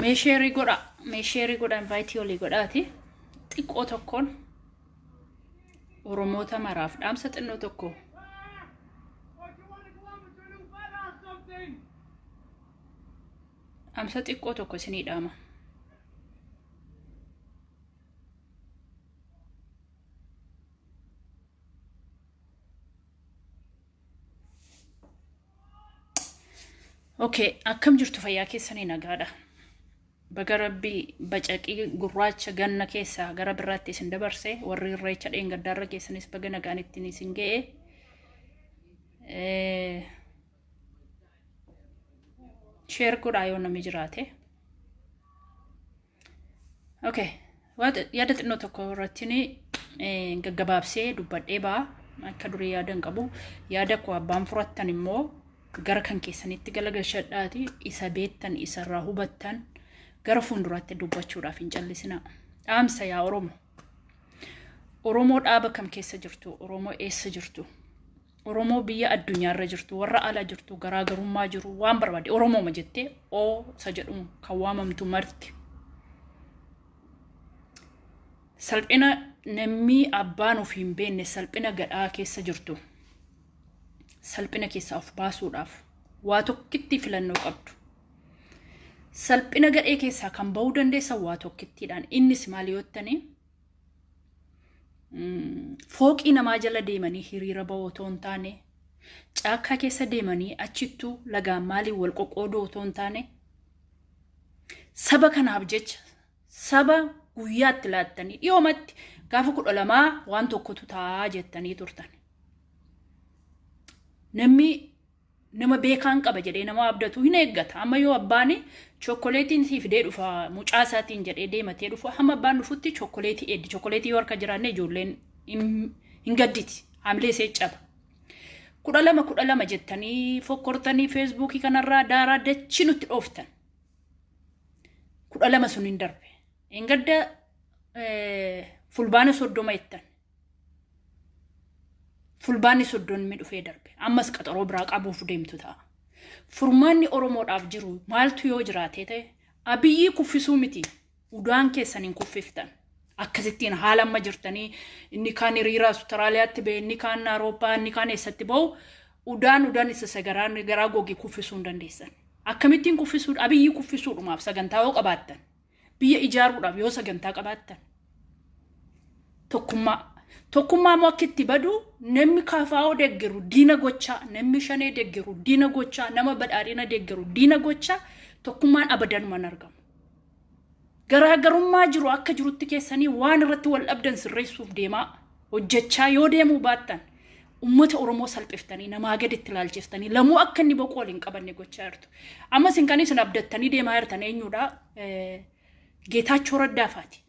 mee sheerii godha mee sheerii godha invaayitii olii godhaati xiqqoo tokkoon oromoota maraaf dhaamsa xinnoo tokko dhaamsa xiqqoo tokko isinii dhaama Okay, akkam jirtu fayyaa keessanii nagaadha. Baga rabbii bacaqii gurraacha ganna keessaa gara birraatti isin dabarse warri irreecha dheengaddaarra keessanis baga nagaan ittiin isin ga'e. Eh, Sheer godhaa yoo namni jiraate. Okay. Yaada xinnoo tokko irratti gaggabaabsee dubbadhee ba'a. Akka durii yaada hin qabu. Yaada koo abbaan furattan immoo gara kan keessanitti galagalchadhaati isa beektan isarraa hubattan gara fuulduraatti dubbachuudhaaf hin callisina. Dhaamsa yaa Oromo. Oromoo dhaaba kam keessa jirtu? Oromoo eessa jirtu? Oromoo biyya addunyaarra jirtu, warra ala jirtu, garaagarummaa jiru, waan barbaade Oromooma jettee oo isa jedhuun kan waamamtu marti. Salphina namni abbaan of hin beekne salphina gadhaa keessa jirtu. Salphina keessaa of baasuudhaaf waa tokkitti filannoo qabdu. Salphina gadhee keessaa kan bahuu dandeessan waa tokkittiidhaan. Innis maal yoo ta'e fooqii namaa jala deemanii hiriira ba'uu otoo hin taane caakkaa keessa deemanii achittuu lagaan maaliin wal qoqqooduu otoo hin taane saba kanaaf jecha saba guyyaatti laattanii dhiyoomatti gaafa kudha lamaa waan tokkotu taa'aa jettanii turtan. Namni nama beekaan qaba jedhee nama abdatu hin eeggata. Amma yoo abbaan chokkoleetiin sii fidee dhufa mucaa isaatiin jedhee deematee dhufu hamma abbaan dhufutti chokkoleetii eeddi. Chokkoleetii yoo harka jiraanne ijoolleen hin hin gadditi. Haamilee isee caba. Kudha lama kudha lama jettanii fokkortanii feesbuukii kanarraa daaraa dachii nutti dhooftan. Kudha lama sun hin darbe. Engadda eh, fulbaana soddoma jettan. Fulbaanni soddonni dhufee darbe. Ammas qaxaroo biraa qabuuf deemtu ta'a. Furmaanni Oromoodhaaf jiru maaltu yoo jiraatee ta'e abiyyii kuffisuu miti. Udaan keessan hin kuffiftan. Akkasittiin haala amma jirtanii inni kaan hiriira Awustiraaliyaatti ba'e, inni kaan Awurooppaa, inni kaan eessatti ba'u udaan udaan isa sagaraa garaa goge kuffisuu hin dandeessan. Akkamittiin kuffisuu abiyyii kuffisuudhumaaf sagantaa yoo qabaattan Biyya ijaaruudhaaf yoo sagantaa qabaattan tokkummaa. Tokkummaa immoo akka itti badu namni kafaa'oo deggeru diina gochaa, namni shanee deggeru diina gochaa, nama badhaadhina deggeru diina gochaa tokkummaan abadanuma hin argamu. Garaagarummaa jiru akka jirutti keessanii waan irratti wal dhabdan sirreessuuf deemaa. hojjechaa yoo deemuu baattan ummata Oromoo salphiftanii namaa gaditti ilaalchiftanii lamuu akka inni boquu wal hin qabanne gochaa jirtu. Amma isin kan isin abdattanii deemaa jirtan eenyudha? Geetaachoo Raddaafaati.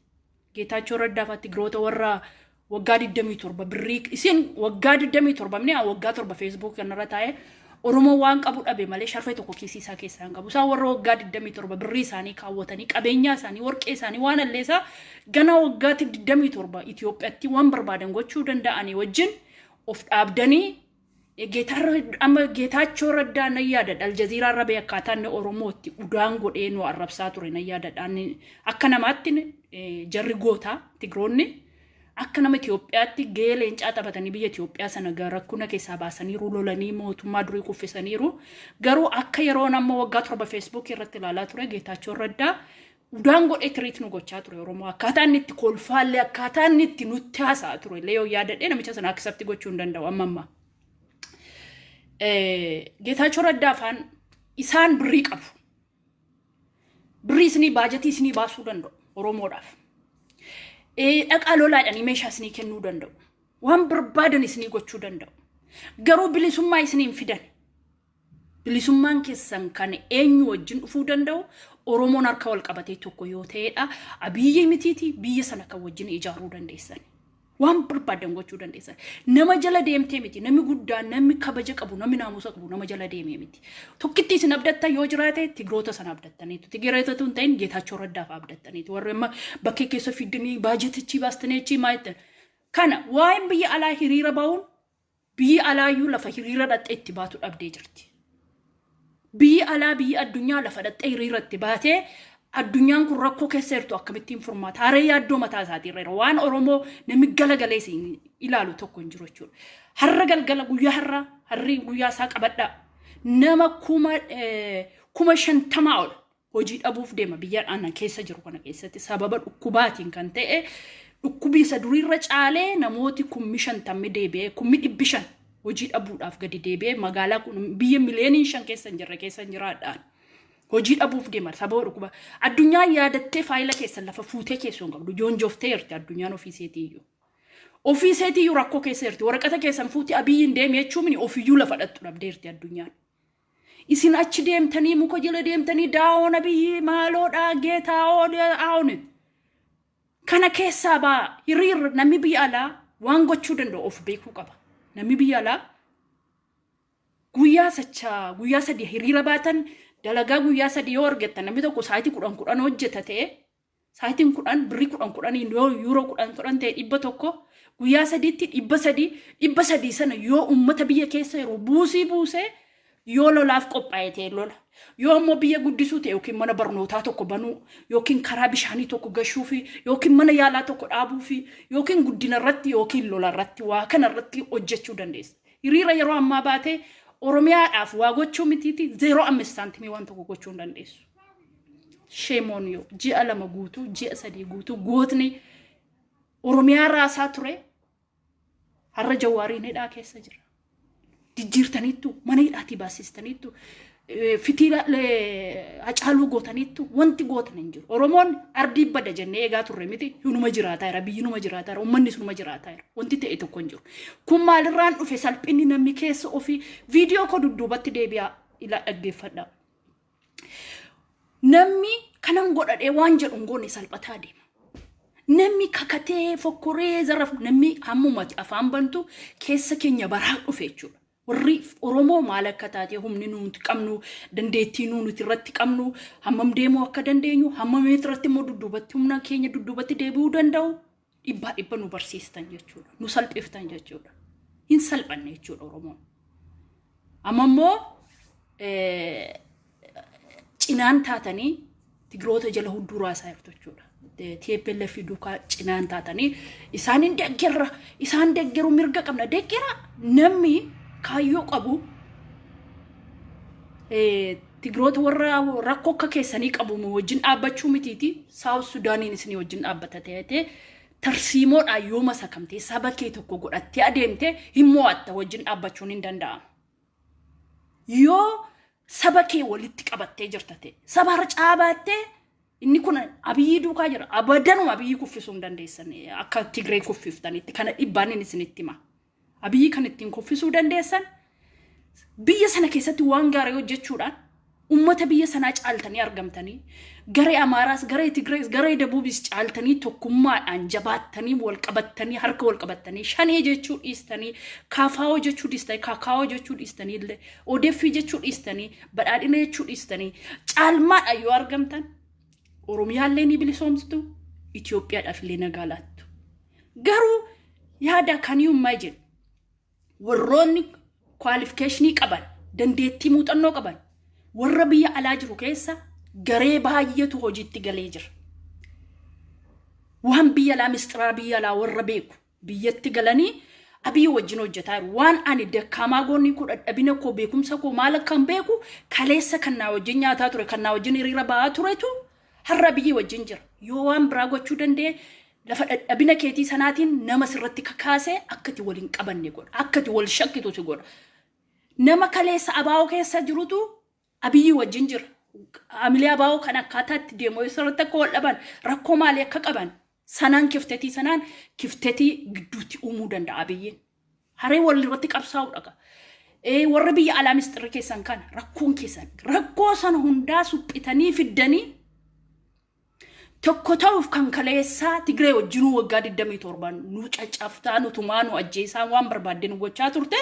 Geetaachoo Raddaafaatti giroota warra waggaa 27 birrii isin waggaa 27 minni waggaa 7 feesbuuk kanarra taa'ee Oromoo waan qabu dhabe malee sharfee tokko kiisii isaa keessaa hin qabu. Isaan warra waggaa 27 birrii isaanii kaawwatanii qabeenyaa isaanii warqee isaanii waan alleesaa ganaa waggaa 27 Itoophiyaatti waan barbaadan gochuu danda'anii wajjin of dhaabdanii amma geetaachoo raddaa nan yaadadha aljaziiraa rabee akkaataa inni oromootti udaan godhee nu arrabsaa ture nan yaadadha akka namaatti jarri gootaa tigroonni Akka nama Itoophiyaatti gahee leencaa taphatanii biyya Itoophiyaa sana ga- rakkuna keessaa baasaniiru, lolanii mootummaa durii kuffisaniiru. Garuu akka yeroon amma waggaa torba feesbuukii irratti ilaalaa ture Geetaachoon Raddaa udaan godhee tiriit nu gochaa ture Oromoo. Akkaataa inni itti kolfaallee akkaataa inni itti nutti haasa'a ture illee yoo yaadadhee namicha sana akisapti gochuu hin danda'u amma ammaa. Eh, Geetaachoo Raddaa afaan isaan birrii qabu. Birrii isinii baajatii isinii baasuu danda'u Oromoodhaaf. Eh, Dhaqaa lolaa jedhanii meeshaa isinii kennuu danda'u. Waan barbaadan isinii gochuu danda'u. Garuu bilisummaa isinii hin fidan. Bilisummaan keessan kan eenyu wajjin dhufuu danda'u Oromoon harka wal qabatee tokko yoo ta'edha. Abiyyii mitiiti biyya sana kan wajjin ijaaruu dandeessan. Waan barbaadan gochuu dandeessa. Nama jala deemtee miti. Namni guddaa, namni kabaja qabu, namni naamusa qabu nama jala deemee miti. Tokkitti isin abdattan yoo jiraate tigiroota sana abdattaniitu. Tigiroota tun ta'in Geetaachoo Raddaaf abdattaniitu. Warri amma bakkee keessa fiddanii baajetichi baastanii achi maayittan. Kana waa'een biyya alaa hiriira ba'uun Biyyi alaayyuu lafa hiriira dhaqxee itti baatu dhabdee jirti. Biyyi alaa biyyi addunyaa lafa dhaqxee hiriira itti baatee addunyaan kun rakkoo keessa jirtu akkamittiin furmaata? Haree yaaddoo mataa isaatii irra jira. Waan Oromoo namni galagalee siin ilaalu tokko hin jiru jechuudha. Har'a galgala guyyaa har'a harri guyyaa isaa qabadhaa. Nama kuma eh, kuma shantamaa ol hojii dhabuuf deema biyya ana keessa jiru kana keessatti sababa dhukkubaatiin kan ta'e dhukkubii isa duriirra caalee namooti kummi shantammi deebi'ee kummi dhibbi shan hojii dhabuudhaaf gadi deebi'ee magaalaa kun biyya miliyooniin shan keessa hin jirre keessa hin jiraadhaan hojii dhabuuf deema sababa dhukkuba addunyaa yaadattee faayila keessan lafa fuutee keessoo hin qabdu joonjooftee jirti addunyaan ofii seetii iyyuu. Ofii isheetii iyyuu rakkoo keessa jirti waraqata keessan fuuti abiyyiin deemi jechuun ofiyyuu lafa dhattu dhabdeerti addunyaan. Isin achi deemtanii muka jala deemtanii daawoo nabiyyii maaloodhaa geetaawoo daawonit. Kana keessaa baa hiriirra namni biyya alaa waan gochuu danda'u of beekuu qaba. Namni biyya alaa guyyaa sacha guyyaa sadii hiriira baatan dalagaa guyyaa sadii yoo argattan namni tokko sa'aatii kudhan kudhan hojjeta ta'e Saayitiin kudhan birrii kudhan kudhaniin yoo yuuroo kudhan kudhan ta'e dhibba tokko guyyaa sadiitti dhibba sadii dhibba sadii sana yoo uummata biyya keessa yeroo buusii buusee yoo lolaaf qophaa'e ta'e lola yoo immoo biyya guddisuu ta'e yookiin mana barnootaa tokko banuu yookiin karaa bishaanii tokko gashuu fi yookiin mana yaalaa tokko dhaabuu fi yookiin guddina irratti yookiin lola irratti waa kana irratti hojjechuu dandeessa. Hiriira yeroo ammaa baatee Oromiyaadhaaf waa gochuu mitiiti zeeroo ammeessaantimii waan tokko gochuu hin dandeessu. Shame on you. Ji'a lama guutuu, ji'a sadii guutuu gootni Oromiyaa raasaa ture har'a jawaariin hidhaa keessa jira. Jijjiirtaniittu, mana hidhaatii baasistaniittu, eh, fitiila eh, hacaaluu gootaniittu wanti gootan hin jiru. Oromoon ardii bada jennee eegaa turre miti hinuma jiraataa jira, biyyi numa jiraataa jira, uummanni sunuma jiraataa jira. Wanti ta'e tokko hin jiru. Kun maalirraan dhufe salphinni namni keessa ofii viidiyoo koo dudduubatti deebi'aa ilaa dhaggeeffadhaa. Namni kanan godhadhee waan jedhu hin goone salphataa deema. Namni kakatee fokkoree zaraf namni hammumati afaan bantu keessa keenya baraa dhufe jechuudha. Warri Oromoo maal akka taatee humni nuti qabnu dandeettii nu nuti irratti qabnu hammam deemuu akka dandeenyu hammam irratti immoo dudduubatti humna keenya dudduubatti deebi'uu danda'u dhibbaa dhibba nu barsiistan jechuudha. Nu salphiftan jechuudha. Hin salphanne jechuudha Oromoon. Amma immoo cinaan taatanii Tigiroota jala hudduu raasaa jirtu jechuudha. TPLF fi duukaa cinaan taatanii isaan hin deggerra isaan deggeru mirga qabna deggera namni kaayyoo qabu Tigroota warra rakkoo akka keessanii qabu nu wajjin dhaabbachuu mitiiti Saawus Sudaaniin isinii wajjin dhaabbata ta'etee tarsiimoodhaan yoo masakamtee saba kee tokko godhattee adeemte hin mo'atta wajjin dhaabbachuun hin danda'amu. Yoo saba kee walitti qabattee jirta ta'e saba harcaa baattee inni kun abiyyii duukaa jira abadanuma abiyyii kuffisuu hin dandeessan akka Tigree kuffiftanitti kana dhibbaan inni isinitti hima. Abiyyi kan ittiin kuffisuu dandeessan biyya sana keessatti waan gaarii hojjechuudhaan ummata biyya sanaa caaltanii argamtanii garee Amaaraas, garee Tigirees, garee Dabuubis caaltanii tokkummaadhaan jabaattanii walqabattanii harka walqabattanii shanee jechuu dhiistanii kaafaawoo jechuu dhiistanii kaakaawoo jechuu dhiistanii illee odeeffii jechuu dhiistanii badhaadhina jechuu dhiistanii caalmaadhaan yoo argamtan Oromiyaallee ni bilisoomsitu Itoophiyaadhaaf illee nagaa laattu. Garuu yaada kan hiyyummaa jedhu warroonni kwaalifikeeshinii qaban dandeettii muuxannoo qaban warra biyya alaa jiru keessa garee baay'eetu hojiitti galee jira. Waan biyya alaa mistiraa biyya alaa warra beeku biyyatti galanii abii wajjin hojjetaa jiru. Waan ani dakkaamaa goonii koo dadhabina koo beekumsa koo maal akkan beeku kaleessa kan naa wajjin nyaataa ture kan naa wajjin hiriira ba'aa turetu Har'a Abiyyi wajjin jira. Yoo waan biraa gochuu danda'e lafa dhadhabina keetii sanaatiin nama sirratti kakaasee akka ati wal hin qabanne godha. Akka ati wal shakkitu si godha. Nama kaleessa abaa'oo keessa jirutu Abiyyi wajjin jira. Haamilee abaa'oo kan akkaataa itti deemu yoo sirratti akka wal dhaban rakkoo maalii akka qaban Sanaan kiftetii sanaan kiftetii gidduutti uumuu danda'a Abiyyiin. Haree wal irratti qabsaa'uu dhaga. Ee warri biyya alaa misxirri keessan kana rakkoon keessan rakkoo sana hundaa suphitanii fiddanii tokko ta'uuf kan kaleessaa Tigree wajjinuu waggaa 27 nu caccabsaa nu tumaa nu ajjeesaa waan barbaadde nu gochaa turte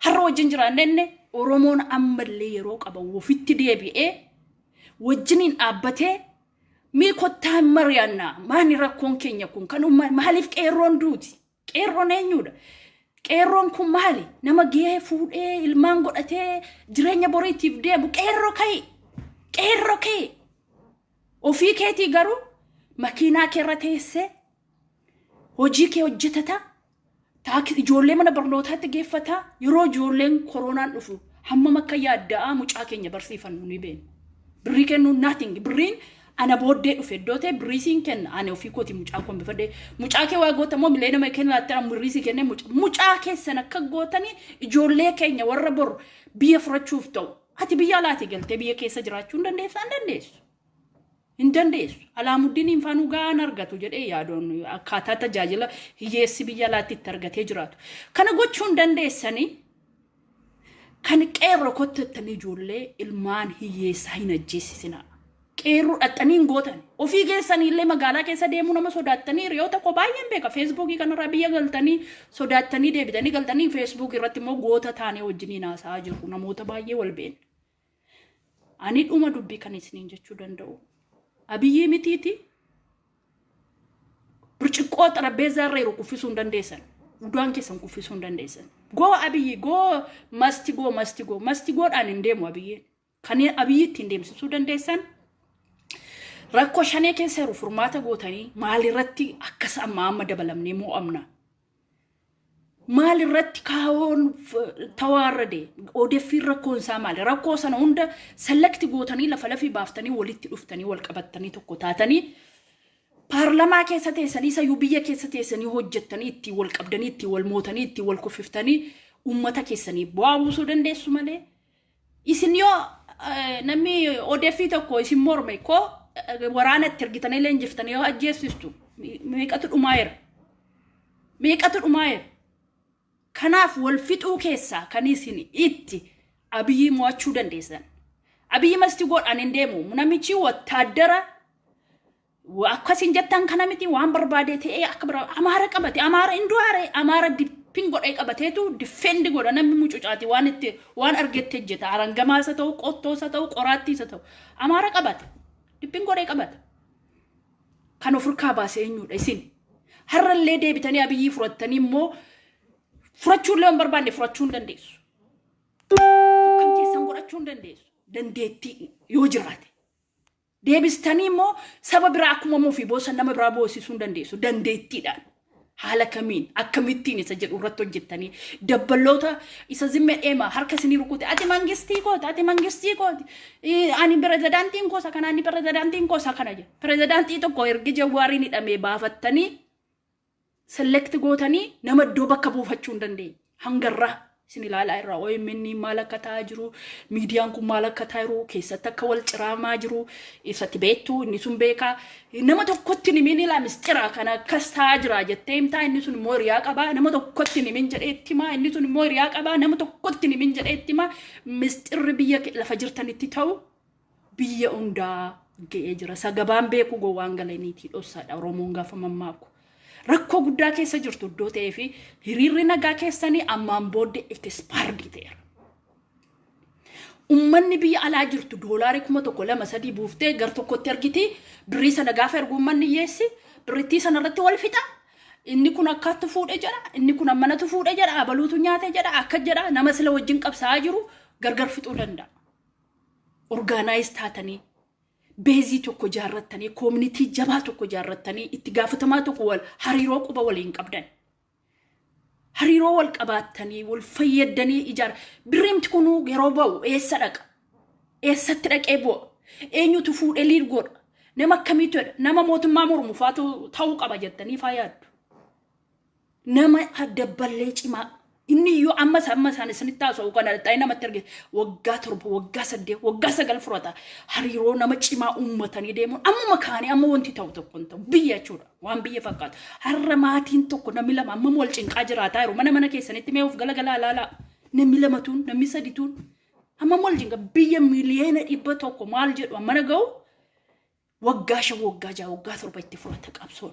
har'a wajjin jiraanne inni Oromoon ammallee yeroo qaba ofitti deebi'ee wajjiniin dhaabbatee Mee kottaa hin mari'annaa maani rakkoon keenya kun kan umma maaliif qeerroon duuti qeerroon eenyuudha qeerroon kun maali nama gahee fuudhee ilmaan godhatee jireenya boriitiif deemu qeerroo ka'i qeerroo ka'i ofii keetii garuu makiinaa kee irra teessee hojii kee hojjetata Taakis ijoollee mana barnootaatti geeffata. Yeroo ijoolleen koroonaan dhufu hammam akka yaadda'aa mucaa keenya barsiifannu ni beekna. Birrii kennuu nothing. Birriin ana booddee dhufe iddoo ta'e birrii siin kenna ani ofii kooti mucaa koo hambifadhe. Mucaa kee waa goota immoo mileena mee kenna laattaa birrii sii kennee mucaa mucaa keessan akka gootanii ijoollee keenya warra bor biyya furachuuf ta'u. Ati biyya alaatii galtee biyya keessa jiraachuu hin dandeessaa hin dandeessu. Hin dandeessu. Alaamuddiniin faa nu gahaa hin argatu jedhee yaadoon akkaataa tajaajila hiyyeessi biyya alaatti itti argatee jiraatu. Kana gochuu hin dandeessanii kan qeerroo kottu jettanii ijoollee ilmaan hiyyeessaa hin ajjeesisinaa. Qeerroo dhaxxanii hin gootan. Ofii keessanii illee magaalaa keessa deemuu nama sodaattanii hiriyoota koo baay'een beeka. Feesbuukii kanarraa biyya galtanii sodaattanii deebitanii galtanii feesbuukii irratti immoo goota taanee wajjiniin haasa'aa jirru namoota baay'ee wal beekna. Ani dhuma dubbii kan isiniin jechuu danda'u. Abiyyii mitiiti birciqqoo xarapheezzaa irra jiru kuffisuu hin dandeessan. Udaan keessan kuffisuu hin dandeessan. Goo abiyyi goo masti goo masti goo masti goodhaan hin deemu abiyyiin. Kan abiyyi ittiin deemsisuu dandeessan rakkoo shanee keessa jiru furmaata gootanii maalirratti akkas amma amma dabalamnee moo'amna. maal irratti kaawoon tawaarrade odeeffiin rakkoon isaa maali rakkoo sana hunda selekti gootanii lafa lafii baaftanii walitti dhuftanii wal qabattanii tokko taatanii paarlamaa keessa teessanii isa iyyuu biyya keessa teessanii hojjettanii ittiin wal qabdanii ittiin wal mootanii ittiin wal kuffiftanii uummata keessanii bu'aa buusuu dandeessu malee Isin yoo namni odeeffii tokko isin morme koo waraana itti ergitanii leenjiftanii yoo ajjeessistu meeqatu dhumaa'eera. Meeqatu dhumaa'eera. Kanaaf wal fixuu keessaa kan isin itti abiyyi mo'achuu dandeessan. Abiyyi masti godhaan hin deemu. Namichi wattaaddara akkas hin jettan kana miti waan barbaadee ta'ee akka bira amaara qabate amaara hin du'aare amaara dippin godhee qabateetu diffeendi godha namni mucucaati waan itti waan argetti hojjeta arangamaa isa ta'u qottoo isa ta'u qoraattii isa ta'u amaara qabate dippin godhee qabate kan ofirkaa baase eenyudha isin har'allee deebitanii abiyyii furattanii immoo furachuullee hin barbaanne furachuu hin dandeessu kan keessan godhachuu hin dandeessu dandeettii yoo jiraate Deebistanii immoo saba biraa akkuma mufii boosan nama biraa boosisuu hin dandeessu. Dandeettiidhaan. Haala kamiin akkamittiin isa jedhu irratti hojjettanii dabballoota isa zimme dheema harka isinii rukute ati mangistii kooti ati mangistii kooti ii, ani pirezidaantiin koosa kana ani pirezidaantiin koosa kana jedhu pirezidaantii tokko ergi jawwaariin hidhamee baafattanii select gootanii nama iddoo bakka buufachuu hin dandeenye. Hanga irraa isin ilaalaa irraa OMN maal akka ta'aa jiru, miidiyaan kun maal akka ta'aa jiru, keessatti akka wal ciraamaa jiru, isatti beektu, inni sun beekaa. Nama tokkotti nimin ilaa mistira kan akkas ta'aa jira jettee himtaa, inni sun immoo hiriyaa qabaa, nama tokkotti nimin jedhee itti himaa, inni sun immoo hiriyaa qabaa, nama tokkotti nimin jedhee itti himaa, mistirri biyya ke- lafa jirtanitti ta'u biyya hundaa ga'ee jira. Isa gabaan beekuu gowwaan galaniitii dhossaadha Oromoon gaafa mammaaku. Rakkoo guddaa keessa jirtu iddoo ta'ee fi hiriirri nagaa keessanii ammaan booddee ekispaardii ta'eera. Ummanni biyya alaa jirtu doolaarii kuma tokko lama sadii buuftee gar tokkotti ergiti birrii sana gaafa ergu ummanni hiyyeessi birrittii sana irratti wal fixa. Inni kun akkaatti fuudhe jedha inni kun ammanatu fuudhe jedha abaluutu nyaate jedha akka jedha nama sila wajjin qabsaa'aa jiru gargar fixuu danda'a. orgaanaayiz taatanii beezii tokko jaarrattanii koominitii jabaa tokko jaarrattanii itti gaafatamaa tokko wal hariiroo quba waliin qabdan hariiroo wal qabaattanii wal fayyaddanii ijaar birriimti kunuu yeroo ba'u eessa dhaqa eessatti dhaqee bu'a eenyutu fuudhee liid godha nama akkamiitu jedha nama mootummaa mormufaatu ta'uu qaba jettanii faa yaaddu nama dabballee cimaa inni iyyuu ammas amma isaan isinitti haasa'u kana ta'ee namatti arge waggaa torba waggaa saddeet waggaa sagal furata hariiroo nama cimaa uummatanii deemuun ammuma kaanii amma wanti ta'u tokko hin ta'u biyya jechuudha waan biyya fakkaatu har'a maatiin tokko namni lama ammam wal cinqaa jiraataa jiru mana mana keessanitti mee of galagalaa ilaalaa namni lamatuun namni sadituun ammam wal cinqa biyya miliyoona dhibba tokko maal jedhu ammana ga'u waggaa shan waggaa ja'a waggaa torba itti furata qabsoon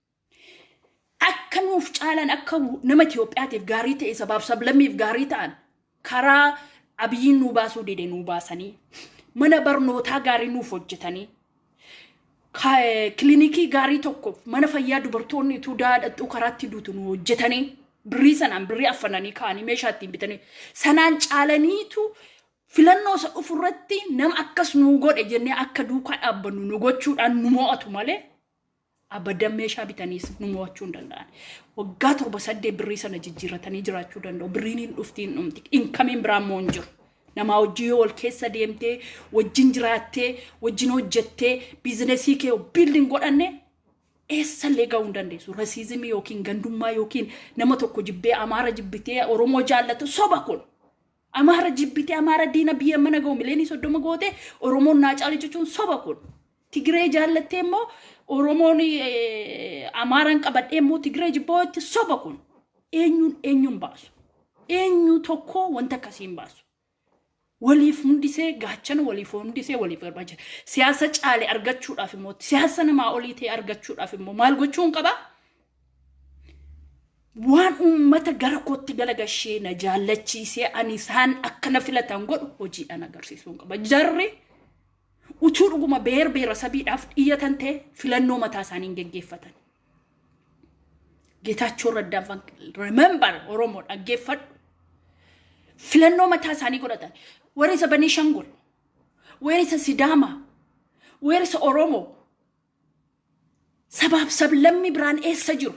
akka nuuf caalan akka nama Itoophiyaatiif gaarii ta'e sabaaf sablammiif gaarii ta'an karaa abiyyiin nuu baasuu dide nuu baasanii mana barnootaa gaarii nuuf hojjetanii ka- kilinikii gaarii tokkoof mana fayyaa dubartoonni utuu daadhattuu karaatti duutu nu hojjetanii birrii sanaan birrii affananii kaanii meeshaa ittiin bitanii sanaan caalaniitu filannoo isa dhufu irratti nama akkas nuu godhe jennee akka duukaa dhaabbannu nu gochuudhaan nu mo'atu malee Abadan meeshaa bitaniis nu mo'achuu hin danda'an. Waggaa torba saddeet birrii sana jijjiirratanii jiraachuu danda'u. Birriin hin dhufti hin dhumti. Inkamiin biraa immoo hin jiru. Namaa wajjin yoo wal keessa deemtee, wajjin jiraattee, wajjin hojjettee, biizinesii kee biildiin godhanne eessallee ga'uu hin dandeessu. Rasiizimii yookiin gandummaa yookiin nama tokko jibbee Amaara jibbitee Oromoo jaallatu soba kun. Amaara jibbite Amaara diina biyya mana ga'u mileenii soddoma goote Oromoon naa caale jechuun soba kun. Tigiree jaallattee immoo Oromoon Amaaraan qabadhee immoo Tigiree jibboo itti soba kun. Eenyuun eenyuun baasu. Eenyu tokko wanta akkasii hin baasu. Waliif hundisee gaachana waliif hundisee waliif barbaacha. Siyaasa caale argachuudhaaf immoo siyaasa namaa olii ta'e argachuudhaaf immoo maal gochuun qaba? waan uummata gara kootti galagashee na jaallachiisee ani isaan akka na filatan godhu hojiidhaan agarsiisuun qaba. Jarri utuu dhuguma beer beera sabiidhaaf dhiyyatan ta'e filannoo mataa isaanii hin geggeeffatan. Geetaachoo Raddaan fan remember Oromoo dhaggeeffadhu. Filannoo mataa isaanii godhatan. Weerisa Banii Shangul, weerisa Sidaamaa, weerisa Oromoo, Sabaaf sablammi biraan eessa jiru?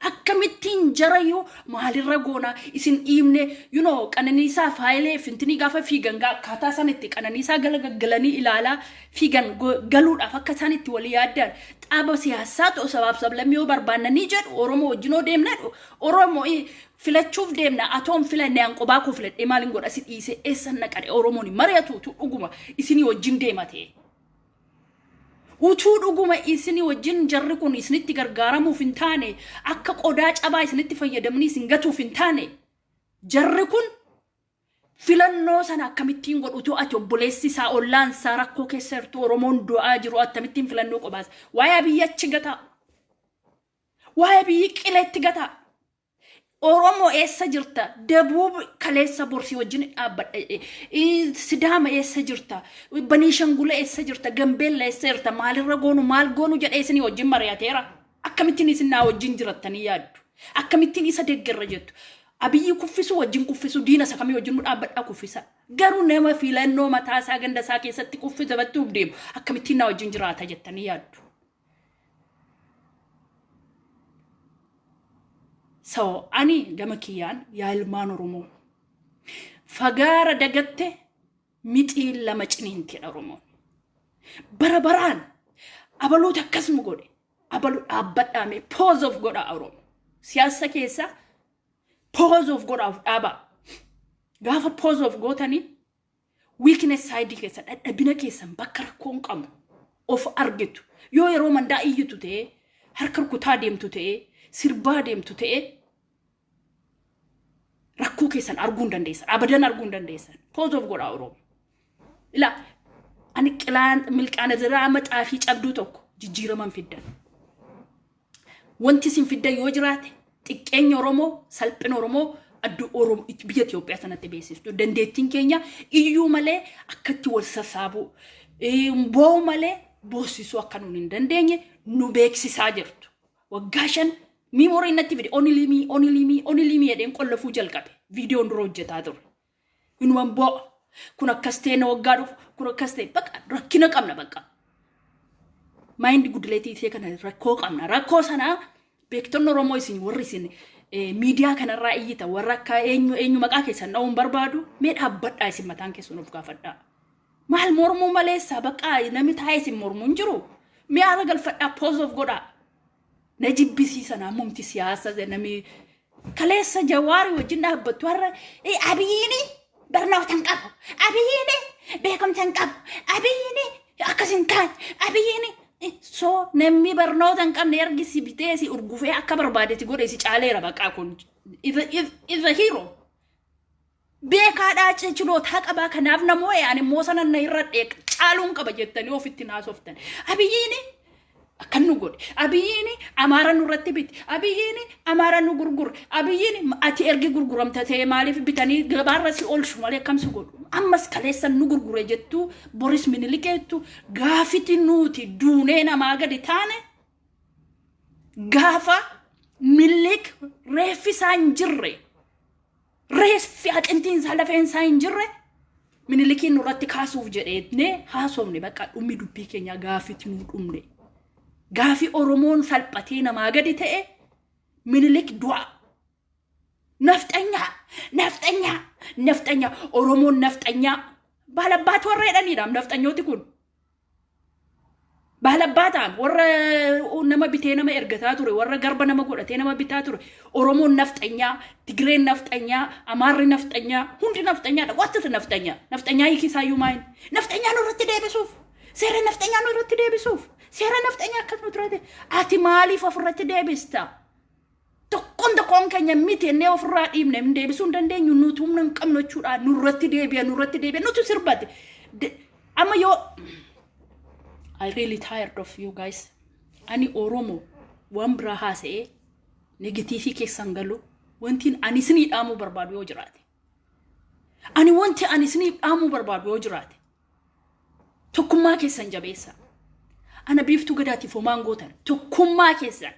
Akkamittiin jarayyuu maalirra goona isin dhiibne you know qananiisaa faayilee fintinii gaafa fiigan gaa akkaataa isaan itti qananiisaa gala gaggalanii ilaalaa fiigan go- galuudhaaf akka isaan itti walii yaaddaan xaaba siyaasaa ta'u sabaaf sablammi yoo barbaannanii jedhu Oromoo wajjin yoo deemna jedhu Oromoo i- filachuuf deemna atoon filanne an qobaa koo filadhee maalin godha si dhiisee eessan naqadhe Oromoon hin mari'atuutu dhuguma isinii wajjin deema ta'e. Utuu dhuguma isinii wajjin jarri kun isinitti gargaaramuuf hin taane, akka qodaa cabaa isinitti fayyadamnii isin gatuuf hin taane, jarri kun filannoo sana akkamittiin godhu utuu ati obboleessi isaa ollaan isaa rakkoo keessa jirtu Oromoon du'aa jiru attamittiin filannoo qobaasa. Waa'ee abiyyi achi gataa. Waa'ee abiyyi qileetti gataa. Oromoo eessa jirta? Dabuub kaleessa bor si wajjin dhaabbadha jedhe. Ii, Sidaama eessa jirta? Baniishangula eessa jirta? Gambeella eessa jirta? Maalirra goonu? Maal goonu jedhee isinii wajjin mari'ateera? Akkamittiin isin naa wajjin jirattanii yaaddu? Akkamittiin isa deggerra jettu? Abiyyi kuffisu wajjin kuffisu diina isa kamii wajjin nu dhaabbadhaa kuffisa. Garuu nama filannoo mataa isaa ganda isaa keessatti kuffisa bachuuf deemu akkamittiin naa wajjin jiraata jettanii yaaddu? So ani gama kiyyaan yaa ilmaan Oromoo fagaara dagatte mixiin lama ciniintidha Oromoon. Bara baraan abaluutu akkas nu godhe abalu dhaabbadhaame pause of godha Oromoo. Siyaasa keessaa pause of godhaaf dhaabaa. Gaafa pause of gootanii Weakness side keessan, dhadhabina keessan bakka rakkoon qabu of argitu. Yoo yeroo mandaa iyyitu ta'ee, harka rukutaa deemtu ta'ee, sirbaa deemtu ta'ee, rakkoo keessan arguu hin dandeessan. Abadan arguu hin dandeessan. Pause of godhaa Oromoo. Ila ani qilaan milqaana ziraa maxaa fi cabduu tokko jijjiiraman fiddan. Wanti isin fiddan yoo jiraate xiqqeenya Oromoo, salphina Oromoo addu Oromoo biyya Itoophiyaa sanatti beeksistu. Dandeettiin keenya iyyuu malee akkatti wal sassaabuu, boo'u malee boossisuu akka nuun hin dandeenye nu beeksisaa jirtu. Waggaa shan miimoorii natti fide onilimii onilimii onilimii jedheen qollafuu jalqabe viidiyoon dura hojjetaa ture. Inuman boo'a. Kun akkas ta'e na waggaa dhufu. Kun akkas ta'e baqa rakkina qabna baqa. Maayindi gudileetii ishee kana rakkoo qabna. Rakkoo sanaa beektonni Oromoo isin warri isin eh, miidiyaa kanarraa iyyita warra akka eenyu eenyu maqaa keessan dha'uun barbaadu mee dhaabbadhaa isin mataan keessan of gaafadhaa. Maal mormuu maleessaa baqqaa namni taa'ee isin mormuu hin jiru. Mee haala galfadhaa pause of godhaa. na jibbisiisan ammumti siyaasa namni kaleessa jawaari wajjin dhaabbattu har'a "Eh, abiyyiini barnoota hin qabu abiyyiini beekumsa hin qabu abiyyiini akkas hin taane abiyyiini Eh, so namni barnoota hin qabne ergi si bitee si urgufee akka barbaade si godhe si caaleera baqaa kun is a hero Beekaa dhaacee chiloota haqabaa kanaaf namoo ee ani immoo sanan na irra dheeq caaluun qaba jettanii ofitti naasoftan. Abiyyiini akkan nu godhe. Abiyyiini amaara nurratti bite. Abiyyiini amaara nu gurgure. Abiyyiini ati ergi gurguramta ta'e maaliif bitanii gabaarra si oolchu malee akkam si godhu. Ammas kaleessan nu gurgure jettu boris minilikeettu gaafiti nuuti duunee namaa gadi taane gaafa milliik reeffi isaa hin jirre. reeffi hacimtiin isaa lafeen isaa hin jirre minilikiin nurratti kaasuuf jedhee haasofne bakka dhummi dubbii keenyaa gaaffitti nuu dhumne. Gaafi Oromoon salphatee namaa gadi ta'e minilik du'a. Nafxanyaa! Nafxanyaa! Nafxanyaa! Oromoon nafxanyaa! Baalabbaatu warra jedhaniidhaam nafxanyooti kun. Baalabbaataan warra nama bitee nama ergataa ture, warra garba nama godhatee nama bitaa ture, Oromoon nafxanyaa, Tigreen nafxanyaa, Amaarri nafxanyaa, hundi nafxanyaadha. What is nafxanyaa? Nafxanyaa hiiki isaayyuu maayini? Nafxanyaa nurratti deebisuuf, seera nafxanyaa nurratti deebisuuf, seera nafxanyaa akkas nutirratti, ati maaliif ofirratti deebista? Tokkoon tokkoon keenya miti jennee ofirraa dhiibne hin deebisuu hin dandeenyu nuti humna hin qabnu jechuudha nurratti deebi'a nurratti deebi'a nutu sirbate De- amma yoo I really tired of you guys ani oromo waan biraa haasa'ee negatiivii keessan galu wantiin ani isinii dhaamuu barbaadu yoo jiraate ani wanti ani isinii dhaamuu barbaadu yoo jiraate tokkummaa keessan jabeessa ana biiftuu gadaatiif homaan gootan tokkummaa keessan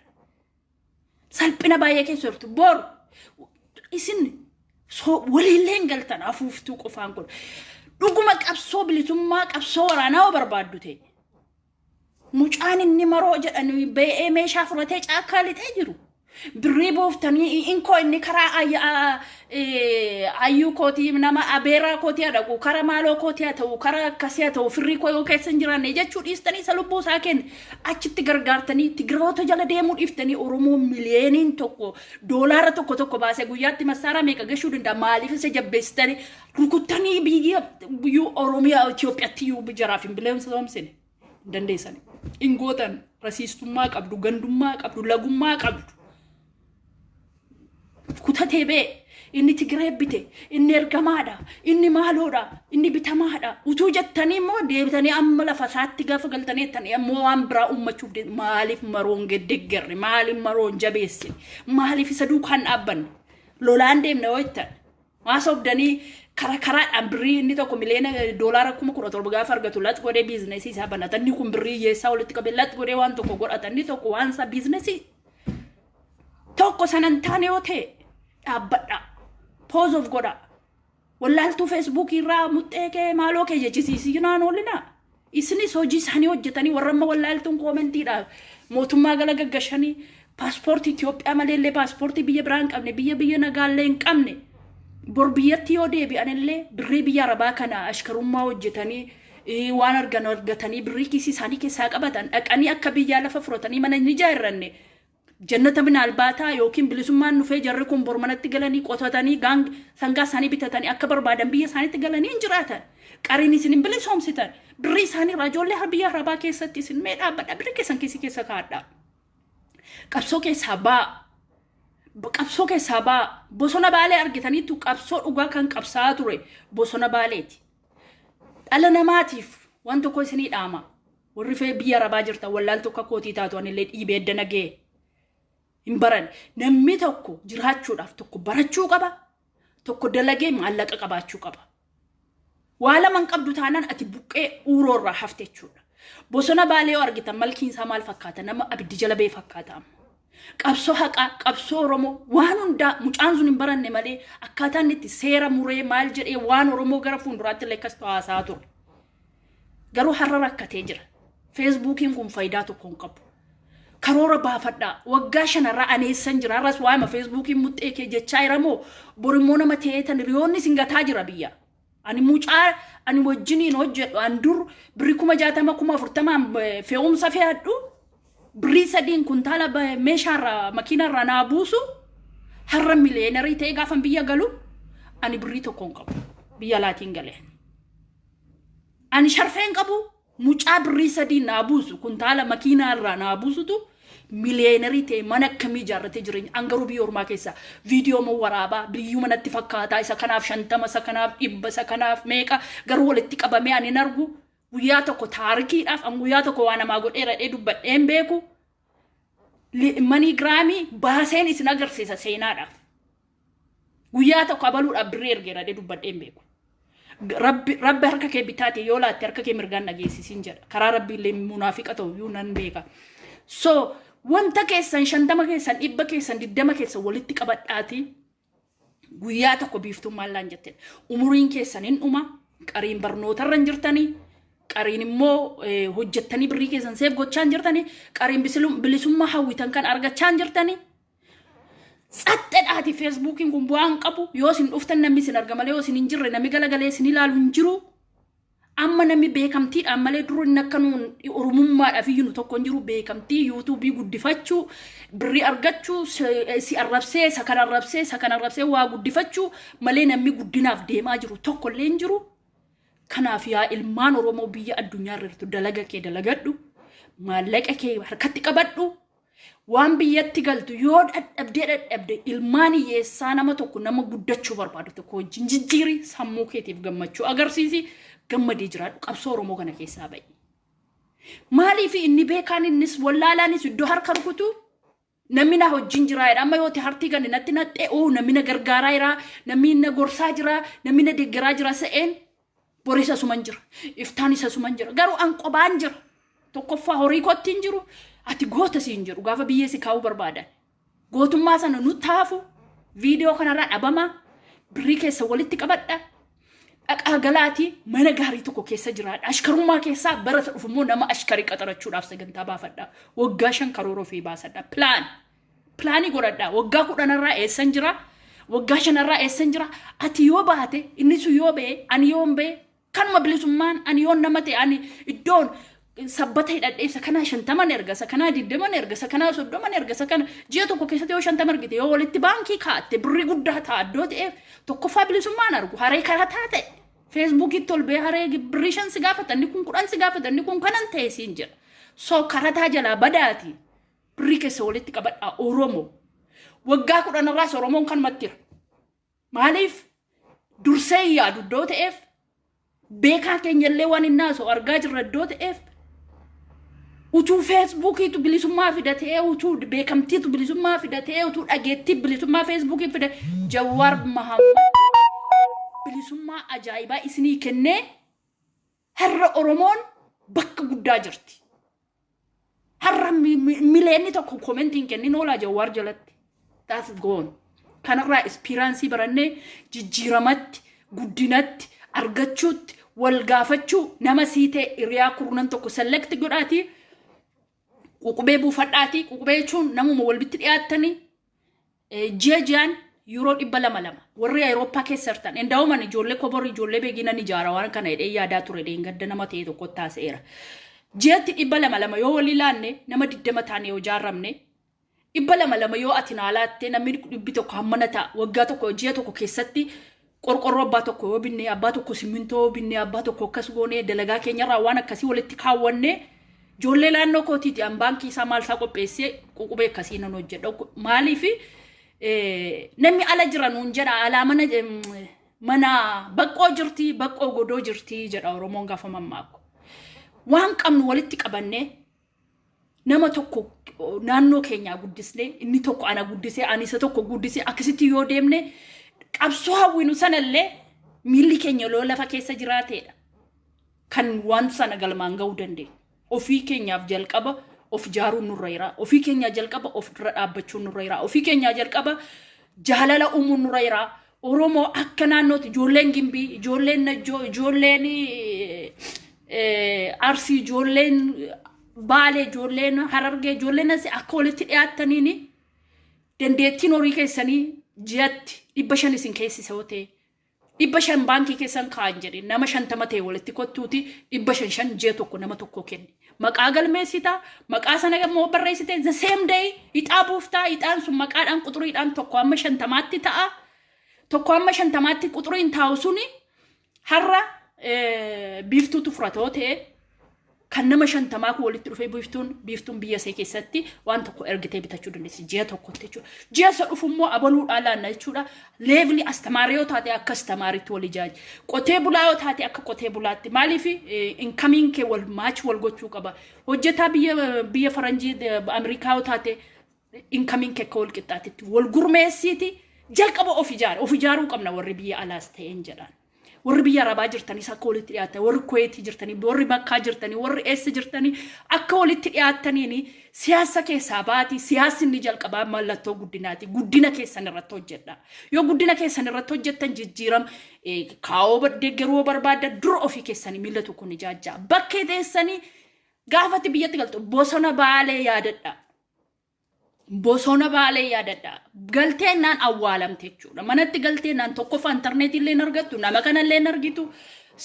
Salphina baay'ee keessa jirtu. Boru isin waliillee hin galtan afuuftuu qofaan kun. Dhuguma qabsoo bilisummaa qabsoo waraanaa hoo barbaaddu ta'e. Mucaan inni maroo jedhanu ba'ee meeshaa fudhatee caakkaa lixee jiru. Birrii buuftanii inkoo inni karaa ayyuu kootii nama abeeraa kootii haa dhaqu karaa maaloo kootii haa ta'u karaa akkasii haa ta'u firrii koo yoo keessa hin jiraanne jechuu dhiistanii isa lubbuu isaa kenne. achitti gargaartanii tigiroota jala deemuu dhiiftanii oromoo miliyeeniin tokko doolaara tokko tokko baasee guyyaatti massaaraa meeqa gashuu danda'a maaliif isa jabbeessitanii rukuttanii biyya biyyuu oromiyaa Itoophiyaatti iyyuu jaraaf hin bileensomsine dandeessanii hin gootan rasiistummaa qabdu gandummaa qabdu lagummaa qabdu kutatee ba'e inni Tigiree bite inni ergamaadha inni maaloodha inni bitamaadha utuu jettanii immoo deebitanii amma lafa isaatti gaafa galtanii jettanii ammoo waan biraa uummachuuf deemu maaliif maroon geddeeggerre maaliif maroon jabeessine maaliif isa duukaan dhaabbanne lolaan deemna yoo jettan Maa sobdanii kara karaadhaan birrii inni tokko miliyoona doolaara kuma kudha torba gaafa argatu lax godhee biizinesii isaa banata. Inni kun birrii hiyyeessaa walitti qabee lax godhee waan tokko godhata. Inni tokko waan isaa biizinesii tokko sana hin taane yoo ta'e dhaabbadha. Pause of godha. Wallaaltuu feesbuukii irraa muxxee kee maaloo kee jechisiisii naan oolinaa. Isinis hojii isaanii hojjetanii warra amma wallaaltuun koomentiidhaaf mootummaa gala gaggashanii paaspoortii Itoophiyaa malee illee paaspoortii biyya biraa hin qabne biyya biyya nagaa illee hin qabne bor biyyatti yoo deebi'an illee birrii biyya arabaa kana ashkarummaa hojjetanii eh, waan argan argatanii birrii kiisii isaanii keessaa qabatan dhaqanii akka biyyaa lafa furatanii mana hin ijaarranne Jannata min albaataa ykn bilisummaan dhufee jarri kun bor manatti galanii qotatanii gaang sangaa isaanii bitatanii akka barbaadan biyya isaaniitti galanii hin jiraatan. Qariin isin hin bilisoomsitan. Birrii isaanii irraa ijoollee har biyya harabaa keessatti isin mee dhaabbadha birrii keessan kiisii keessa kaadha. Qabsoo keessaa baa. B- Qabsoo keessaa baa. Bosona baalee argitaniittu qabsoo dhugaa kan qabsaa'aa ture bosona baaleeti. Dhala namaatiif waan tokko isinii dhaama. Warri fee biyya arabaa jirtan wallaaltuu akka kootii taatu anillee dhiibee edda nagee hin baran. Namni tokko jiraachuudhaaf tokko barachuu qaba. Tokko dalagee maallaqa qabaachuu qaba. Waa lama hin qabdu taanaan ati buqqee uuroo irraa hafte jechuudha. Bosona baalee yoo argitan malkiin isaa maal fakkaata? Nama abiddi jala ba'e fakkaata amma. Qabsoo haqaa, qabsoo Oromoo waan hundaa mucaan sun hin baranne malee akkaataa inni itti seera muree maal jedhee waan Oromoo gara fuulduraatti illee akkas ta'u haasaa ture. Garuu har'a rakkatee jira. Feesbuukiin kun faayidaa tokko hin qabu. Karoora baafadhaa. Waggaa shanarraa ani eessan jira. Har'as waa'ima feesbuukiin muxxee kee jechaa jira moo borimmoo nama ta'eetan hiriyoonni isin gataa jira biyya. Ani mucaa ani wajjiniin hojjedhu an dur birri kuma jaatama kuma afurtamaan eh, fe'umsa fe'adhu birrii sadiin kuntaala ba- meeshaarraa makiinarraa naa buusu har'a miliyeenarii ta'ee gaafan biyya galu ani birrii tokko hin qabu biyya laatiin galee. Ani sharfeen qabu mucaa birrii sadii naa buusu kuntaala makiinaa irraa naa buusutu miliyeenarii ta'e mana akkamii ijaarratee jireenya an garuu biyya ormaa keessa viidiyoo moo waraabaa biyyuma natti fakkaataa isa kanaaf shantama isa kanaaf dhibba isa kanaaf meeqa garuu walitti qabamee ani hin argu guyyaa tokko taarikiidhaaf an guyyaa tokko waa namaa godheera jedhee dubbadhee hin beeku maniigiraamii baaseen isin agarsiisa seenaadhaaf. Guyyaa tokko abaluudhaaf birrii ergeera jedhee dubbadhee hin beeku. Rabbi rabbi harka kee bitaatiin yoo laatte harka kee mirgaan dhageessisiin jedha. Karaa rabbii illee munaafiqa ta'u iyyuu nan beeka. So wanta keessan shantama keessan dhibba keessan digdama keessan walitti qabadhaatii Guyyaa tokko biiftuun maallaan jetteen umuriin keessan hin dhuma qariin barnootarra hin jirtanii qariin immoo hojjettanii birrii keessan seef gochaa hin jirtanii qariin bilisummaa hawwitan kan argachaa hin jirtanii. Tsaxxedhaati feesbuukiin kun bu'aa hin qabu yoo isin dhuftan namni isin arga malee yoo isin hin jirre namni galagalee isin ilaalu hin jiru. Amma namni beekamtiidhaan malee dura inni akka nuun oromummaadhaaf iyyuu nu tokko hin jiru beekamtii yuutuubii guddifachuu birrii argachuu si- si arrabsee isa kan arrabsee isa kan arrabsee waa guddifachuu malee namni guddinaaf deemaa jiru tokko illee hin jiru. Kanaaf yaa ilmaan Oromoo biyya addunyaa irra jirtu dalaga kee dalagadhu maallaqa kee harkatti qabadhu Waan biyyatti galtu yoo dhadhabdee dhadhabde ilmaan hiyyeessaa nama tokko nama guddachuu barbaadu tokko wajjin jijjiiri sammuu keetiif gammachuu agarsiisi gammadee jiraadhu qabsoo Oromoo kana keessaa ba'i. Maaliif inni beekaan innis wallaalaanis iddoo harka rukutu namni na wajjin jiraa jedha amma yooti hartii gani natti naxxee oo namni na gargaaraa jiraa namni na gorsaa jiraa namni na deggeraa jiraa se'een Boris asuman jira. Iftaanis asuman jira. Garuu an qobaan jira. Tokkoffaa horii kootti hin jiru. Ati goota siin jedhu gaafa biyyee si kaa'uu barbaadan. Gootummaa sana nu taafu viidiyoo kanarraa dhabamaa birrii keessa walitti qabadha. Dhaqaa galaatii mana gaarii tokko keessa jiraadha. Ashkarummaa keessaa barata dhufu immoo nama ashkarii qaxarachuudhaaf sagantaa baafadha. Waggaa shan karoora ofii baasadha. Pilaan. Pilaanii godhadhaa waggaa kudhanarraa eessan jira waggaa shanarraa eessan jira ati yoo baate inni sun yoo ba'e ani yoon ba'e kanuma bilisummaan ani yoon nama ta'e ani iddoon sabbata hidhadhee isa kanaa shantaman erga isa kanaa digdaman erga isa kanaa soddoman erga isa kana ji'a tokko keessatti yoo shantama argite yoo walitti baankii kaatte birrii guddaa ta'a iddoo ta'eef tokkoffaa bilisummaan argu haree karaa taate feesbuukiitti ol ba'ee haree birrii shan si gaafata inni kun kudhan si gaafata inni kun kanan ta'e siin jedha so karataa jalaa badaati Birrii keessa walitti qabadhaa Oromoo. Waggaa kudhan irraas Oromoon kanumatti jira. Maaliif dursee hin yaadu iddoo ta'eef beekaa keenya illee waan hin naasoo argaa jirra iddoo ta'eef utuu feesbuukiitu bilisummaa fida ta'ee utuu beekamtiitu bilisummaa fida ta'ee utuu dhageettii bilisummaa feesbuukii fida Jawaar Mahammad bilisummaa ajaa'ibaa isinii kennee Har'a Oromoon bakka guddaa jirti. Har'a mi- mi- mileenni tokko komentii hin kennin oolaa Jawaar jalatti. That's gone. Kanarraa ispiraansii barannee jijjiiramatti, guddinatti, argachuutti, wal gaafachuu nama sii ta'e hiriyaa kurnan tokko select godhaatii ququbee buufadhaatii ququbee jechuun namuma walbitti dhiyaattanii ji'a ji'aan yuuroo dhibba lama lama warri Awurooppaa keessa jirtan endawuman ijoollee kobor ijoollee beekinan ijaara waan kana jedhee yaadaa ture dheengadda nama ta'e tokko taasa'eera. Ji'atti dhibba lama lama yoo walii laanne nama digdama taane yoo jaaramne dhibba lama lama yoo ati naa laatte namni dhibbi tokko hammana ta'a waggaa tokko ji'a tokko keessatti Qorqorroo abbaa tokko yoo binnee, abbaa tokko simmintoo yoo binnee, abbaa tokko akkas goonee dalagaa keenyarraa waan akkasii walitti kaawwannee ijoollee naannoo kootiiti an baankii isaa maal isaa qopheessee ququbee akkasii nan hojjedha. Maaliif namni ala jira nuun jedha alaa mana mana baqqoo jirti baqqoo godoo jirti jedha Oromoon gaafa mammaaku. Waan qabnu walitti qabannee nama tokko naannoo keenyaa guddisnee inni tokko ana guddisee ani isa tokko guddisee akkasitti yoo deemne qabsoo hawwinu sanallee miilli keenya loo lafa keessa jiraateedha kan waan sana galmaan ga'uu dandeenyu. Ofii keenyaaf jalqaba of jaaruun nurra jira. Ofii keenyaa jalqaba of dura dhaabbachuun nurra jira. Ofii keenyaa jalqaba jaalala uumuun nurra jira. Oromoo akka naannootti ijoolleen Gimbii, ijoolleen Najjoo, ijoolleen eh, Arsii, ijoolleen Baalee, ijoolleen Harargee, ijoolleen asi akka walitti dhiyaattaniin dandeettiin horii keessanii ji'atti dhibba shan isin keessisa yoo ta'e dhibba shan baankii keessan kaa'an jedhe nama shantama ta'e walitti kottuuti dhibba shan shan ji'a tokko nama tokko kenni. maqaa galmeessita maqaa sana immoo barreessite the same day ixaa buuftaa ixaan sun maqaadhaan quxuriidhaan tokko amma shantamaatti ta'a tokko amma shantamaatti quxuriin taa'u suni har'a eh, biiftuutu furatoo ta'e kan nama shantamaa kun walitti dhufee biiftuun biiftuun biyya see keessatti waan tokko ergitee bitachuu dandeessi ji'a tokkotti jechuudha ji'a isa dhufu immoo abaluudhaa laanna jechuudha leevli astamaarii yoo taate akka astamaariitti wal ijaaji. Qotee bulaa yoo taate akka qotee bulaatti maaliif inkamiin kee wal maachi wal gochuu qaba. Hojjetaa biyya biyya faranjii eh, Ameerikaa yoo taate inkamiin kee akka wal qixxaatitti wal gurmeessiiti jalqaba of ijaara. Of ijaaruu qabna warri biyya alaas ta'een jedhaan. Warri biyya Arabaa jirtanis akka walitti dhiyaattan, warri Kuweetii jirtanii, warri Makkaa jirtanii, warri eessa jirtanii akka walitti dhiyaattaniin siyaasa keessaa baati. Siyaasni inni jalqabaa mallattoo guddinaati. Guddina keessan irratti hojjedha. Yoo guddina keessan irratti hojjettan jijjiiram kaa'oo deeggaruu barbaadda dura ofii keessanii miila tokkoon ijaajjaa. Bakkee teessanii gaafatti biyyatti galtu bosona baalee yaadadha. Bosona baalee yaadadha. Galtee naan awwaalamte jechuudha. Manatti galtee naan tokkoffaa intarneetii illee hin argattu, nama kana illee hin argitu,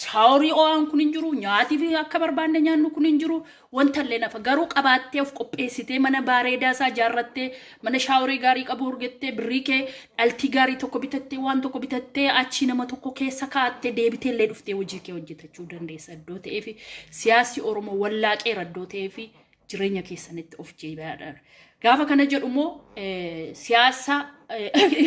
saaworii oo'aan kun hin jiru, nyaati fi akka barbaanne nyaannu kun hin jiru, wanta illee nafa. Garuu qabaattee of qopheessitee mana baareedaa isaa ijaarrattee, mana shaaworii gaarii qabu argattee, birrii kee dhaltii gaarii tokko bitattee, waan tokko bitattee achii nama tokko keessa kaa'attee deebitee illee dhuftee hojii kee hojjetachuu dandeessa iddoo ta'eefi siyaasi Oromoo wallaaqeera iddoo ta'eefi jireenya keessanitti of jeebaadha. Gaafa kana jedhu immoo siyaasa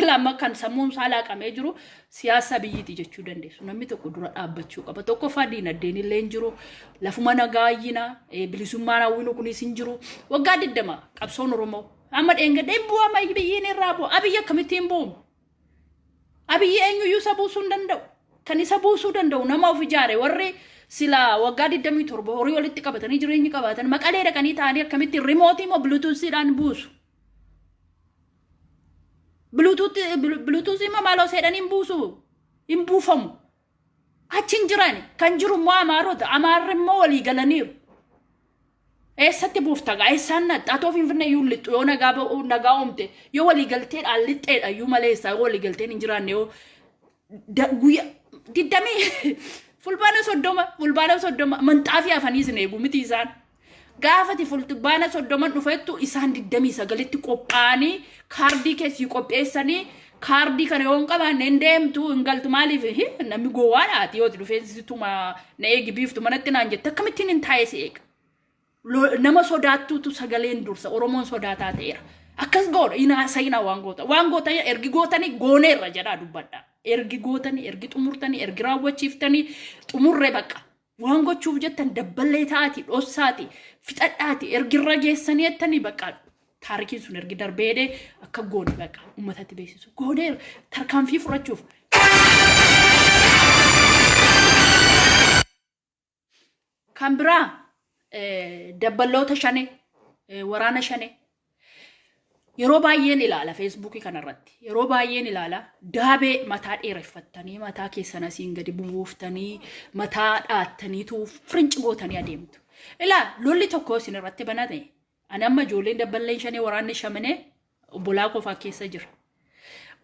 lama kan sammuun isaa laaqamee jiru siyaasa biyyiiti jechuu dandeessu. Namni tokko dura dhaabbachuu qaba. Tokkoffaa diinagdeen illee hin jiru. Lafuma nagaayyina bilisummaan hawwinu kunis hin jiru. Waggaa digdama qabsoon Oromoo amma dheengadheen bu'aa biyyiin irraa bu'a. Abiyyi akkamittiin bu'u? Abiyyi eenyuyyuu isa buusuu hin danda'u. Kan isa buusuu danda'u nama of ijaare warri sila waggaa 27 horii walitti qabatanii jireenyi qabaatan maqalee dhaqanii taa'anii akkamitti rimootii moo biluutuusiidhaan buusu. Biluutuusii immoo maaloo seedhanii hin buusu hin buufamu. Achi hin jiran kan jiru immoo amaarota amaarri immoo walii galaniiru. Eessatti buufta gaa eessaan naxxa atoo finfinnee iyyuu hin lixxu yoo nagaa ba'u nagaa uumte yoo walii galteedhaan lixxeedha iyyuu malee eessaa yoo walii galteen hin jiraanne yoo da- guyya digdamii fulbaana soddoma fulbaana soddoma manxaafii afanii isin eegu miti isaan Gaafati fulbaana soddoman dhufettu isaan digdamii sagalitti qophaa'anii kaardii kee sii qopheessanii kaardii kana yoo hin qabaanne hin deemtu hin galtu maaliif hi namni gowwaadha ati yoo itti dhufeensituma na eegi biiftu manatti naan jette akkamittiin hin taa'ee si eega. Lo- Nama sodaattuutu sagaleen dursa Oromoon sodaataa ta'eera. Akkas goona hin haasa'inaa waan goota waan goota ergi gootanii gooneerra jedhaa dubbadha. Ergi gootanii ergi xumurtanii ergi raawwachiiftanii xumurre baqa. Waan gochuuf jettan dabballee ta'aati dhossaati fixadhaati ergi irra geessanii jettanii bakka taarikiin sun ergi darbee jedhee akka goone bakka uummatatti beeksisu goonee tarkaanfii fudhachuuf kan biraa eh, dabballoota shane eh, waraana shane Yeroo baay'een ilaala feesbuukii kanarratti. Yeroo baay'een ilaala daabee mataa dheereffattanii mataa keessan asiin gadi bubuuftanii mataa dhaattaniitu firinci gootanii adeemtu. Ilaa lolli tokko isin irratti banate. Ani amma ijoolleen dabballeen shanee waraanni shamanee obbolaa kofaa keessa jira.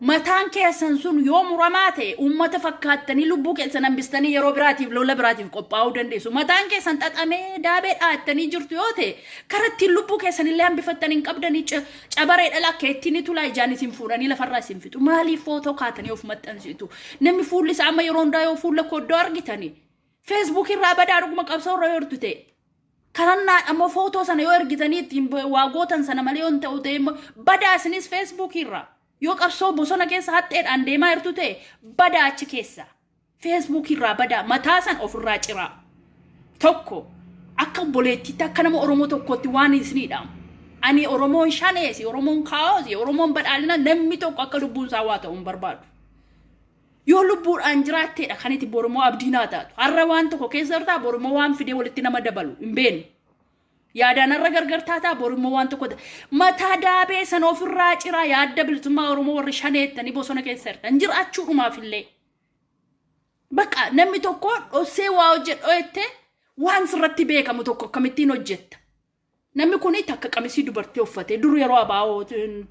Mataan keessan sun yoo muramaa ta'e uummata fakkaattanii lubbuu keessan hambistanii yeroo biraatiif lola biraatiif qophaa'uu dandeessu. Mataan keessan xaxamee daabee dhaattanii jirtu yoo ta'e karaa ittiin lubbuu keessan illee hambifattan hin qabdanii ca- cabaree dhala akka ittiin tulaa ijaan isin fuudhanii lafarraa isin fixu. Maaliif footoo kaatanii of maxxansitu? Namni fuulli isaa amma yeroo hundaa yoo fuula koo iddoo argitanii Facebook irraa badaa dhuguma qabsoo irra yortu ta'e. Karannaadha immoo footoo sana yoo ergitanii ittiin waa gootan sana malee yoo hin ta'u ta'e immoo badaa isinis Facebook irraa. Yoo qabsoo bosona keessa haxxeedhaan deemaa jirtu ta'e badaa achi keessa. Facebook irraa badaa mataa san ofirraa ciraa. Tokko akka obboleettiitti akka nama Oromoo tokkootti waan isiniidhaam. Ani Oromoon shaneesi, Oromoon kaa'oosi, Oromoon badhaadhina namni tokko akka lubbuun isaa waa ta'u hin barbaadu. Yoo lubbuudhaan jiraatteedha kan itti bormoo abdii naa taatu. Har'a waan tokko keessa jirtaa bormoo waan fidee walitti nama dabalu hin beenu. Yaadaan har'a gargar taataa bormoo waan tokko mataa daabee sana ofirraa ciraa yaadda bilisummaa Oromoo warri shaneettanii bosona keessa jirtan jiraachuu dhumaaf illee. Bakka namni tokko dhossee waa hojjedhoo jettee waan sirratti beekamu tokko akkamittiin hojjetta. Namni kun takka qamisii dubartii uffatee dur yeroo abaa'oo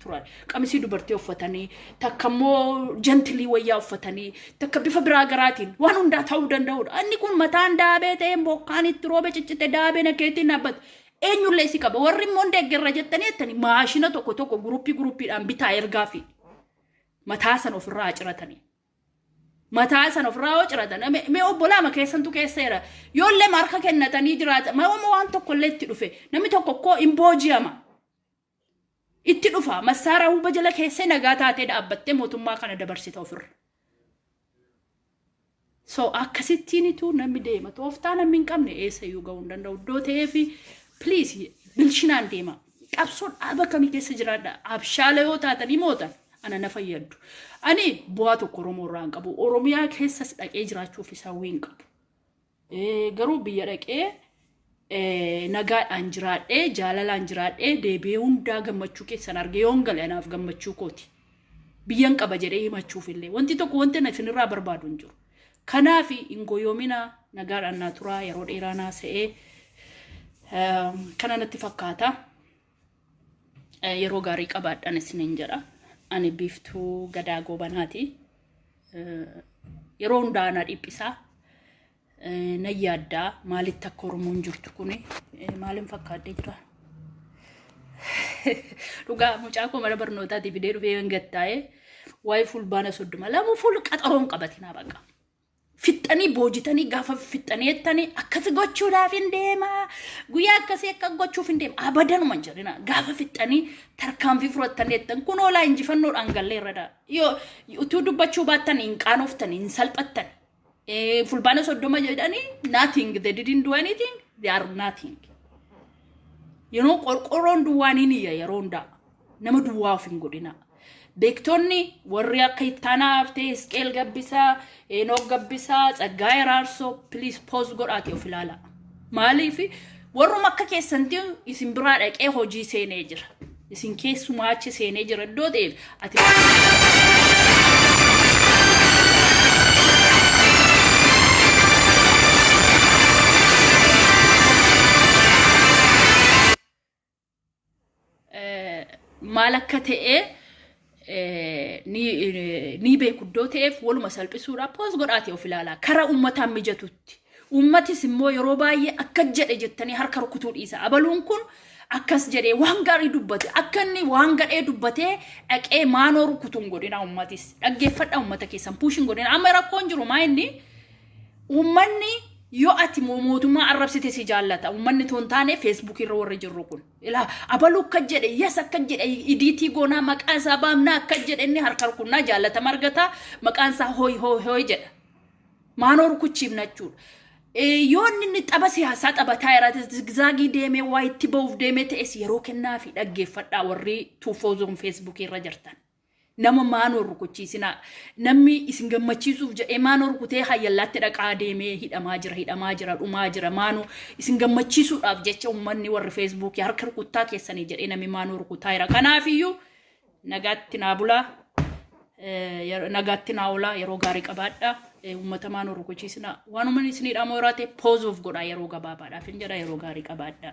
turan qamisii dubartii uffatanii takka immoo jantilii wayyaa uffatanii takka bifa biraa garaatiin waan hundaa ta'uu danda'udha. Inni kun mataan daabee ta'ee bokkaan itti roobe ciccite daabee nakeetiin dhaabbata. Eenyullee si qaba. Warri immoo hin deeggarra jettanii jettanii maashina tokko tokko guruppii guruppiidhaan bitaa ergaa fi mataa sana ofirraa haciratanii. mataa isan ofirraa yoo ciratan me- mee obbolaama keessantu keesseera yoollee harka kennatanii jiraata mawama waan tokkollee itti dhufe namni tokko koo hin booji'ama itti dhufa massaaraa huba jala keessee nagaa taatee dhaabbattee mootummaa kana dabarsita ofirra so akkasittiinitu namni deema tooftaa namni hin qabne eessayyuu ga'uu hin danda'u iddoo ta'eefi please bilchinaan deema Qabsoo dhaaba kami keessa jiraadha abshaala yoo taatanii mootan ana na fayyaddu. Ani bu'aa tokko Oromoo irraa hin qabu. Oromiyaa keessas dhaqee jiraachuuf isaa hawwii hin qabu. Eh, Garuu biyya dhaqee eh, nagaadhaan jiraadhee jaalalaan jiraadhee deebi'ee hundaa gammachuu keessan argee yoon gale anaaf gammachuu kooti. Biyyan qaba jedhee himachuuf illee wanti tokko wanti ani isinirraa barbaadu hin jiru. Kanaafi hin goyoominaa nagaadhaan naa turaa yeroo dheeraa naa se'ee kana natti fakkaata. Yeroo gaarii qabaadhaan isiniin jedha. Ani biiftuu gadaa goobanaati. Yeroo hundaa na dhiphisaa na yaaddaa maalitti akka Oromoon jirtu kuni maaliin fakkaattee jira. Dhugaa mucaa koo mana barnootaatii fidee dhufee hin gattaa'ee waa'ee fulbaana soddoma lamu ful qaxaroon qabatinaa baqa. Fixxanii boojitanii gaafa fixxanii jettanii akkasi gochuudhaaf hin deemaa guyyaa akkasii akka gochuuf hin deema abadanuma hin jedhina gaafa fixxanii tarkaanfii fudhattanii jettan kun oolaa injifannoodhaan gallee irra daa yoo utuu dubbachuu baattan hin qaanoftan hin salphattan Eh, fulbaana soddoma jedhanii nothing they didn't do anything they are nothing you know qorqorroon duwwaa ni niyya yeroo hundaa nama duwwaa of hin godhina beektonni warri akka ittaanaa haftee isqeel gabbisaa enoog gabbisaa tsaggaa eraarsoo please pause godhaati of ilaala Maaliif warruma akka keessanti isin biraa dhaqee hojii seenee jira. Isin keessumaa achi seenee jira iddoo ta'eef ati maal akka ta'e ni beeku iddoo ta'eef waluma salphisuudha poos godhaati of ilaalaa kara ummataan mijatutti ummatis immoo yeroo baay'ee akka jedhe jettanii harka rukutuu dhiisa abaluun kun akkas jedhee waan gaarii dubbate akka inni waan gadhee dubbatee dhaqee maanoo rukutuun godhina ummatis dhaggeeffadha ummata keessan puushin godhina amma rakkoon jiru maa inni Uummanni yoo ati mo- mootummaa arrabsite si jaallata. Uummanni too hin taane feesbuukii irra warri jirru kun. Ilaa abaluu akka jedhe yes akka jedhe idiitii goonaa maqaa isaa baamnaa akka jedhe inni harka rukunnaa jaallatama argata maqaan isaa hooy hooy hooy jedha. Maanoo rukuchiifna jechuudha. Eh, Yoo inni inni tapha siyaasaa taphataa jiraate zigzaagii deemee waa itti ba'uuf deemee ta'es yeroo kennaa fi dhaggeeffadhaa warri tuufoo zoon feesbuukii irra jirtan. Nama maanoo rukuchiisinaa. Namni isin gammachiisuuf jedhee maanoo rukutee hayyallaatti dhaqaa deemee hidhamaa jira, hidhamaa jira, dhumaa jira. Maanoo isin gammachiisuudhaaf jecha ummanni warri feesbuukii harka rukuttaa keessanii jedhee namni maanoo rukutaa jira. Kanaafiyyuu nagaatti naa bulaa. Eh, yer- nagaatti naa oolaa yeroo gaarii qabaadha Eh, uummata maanoo rukuchiisina waanuma isinii dhaamoo irraa ta'e poozuuf godha yeroo gabaabaadhaaf hin jedha yeroo gaarii qabaadha.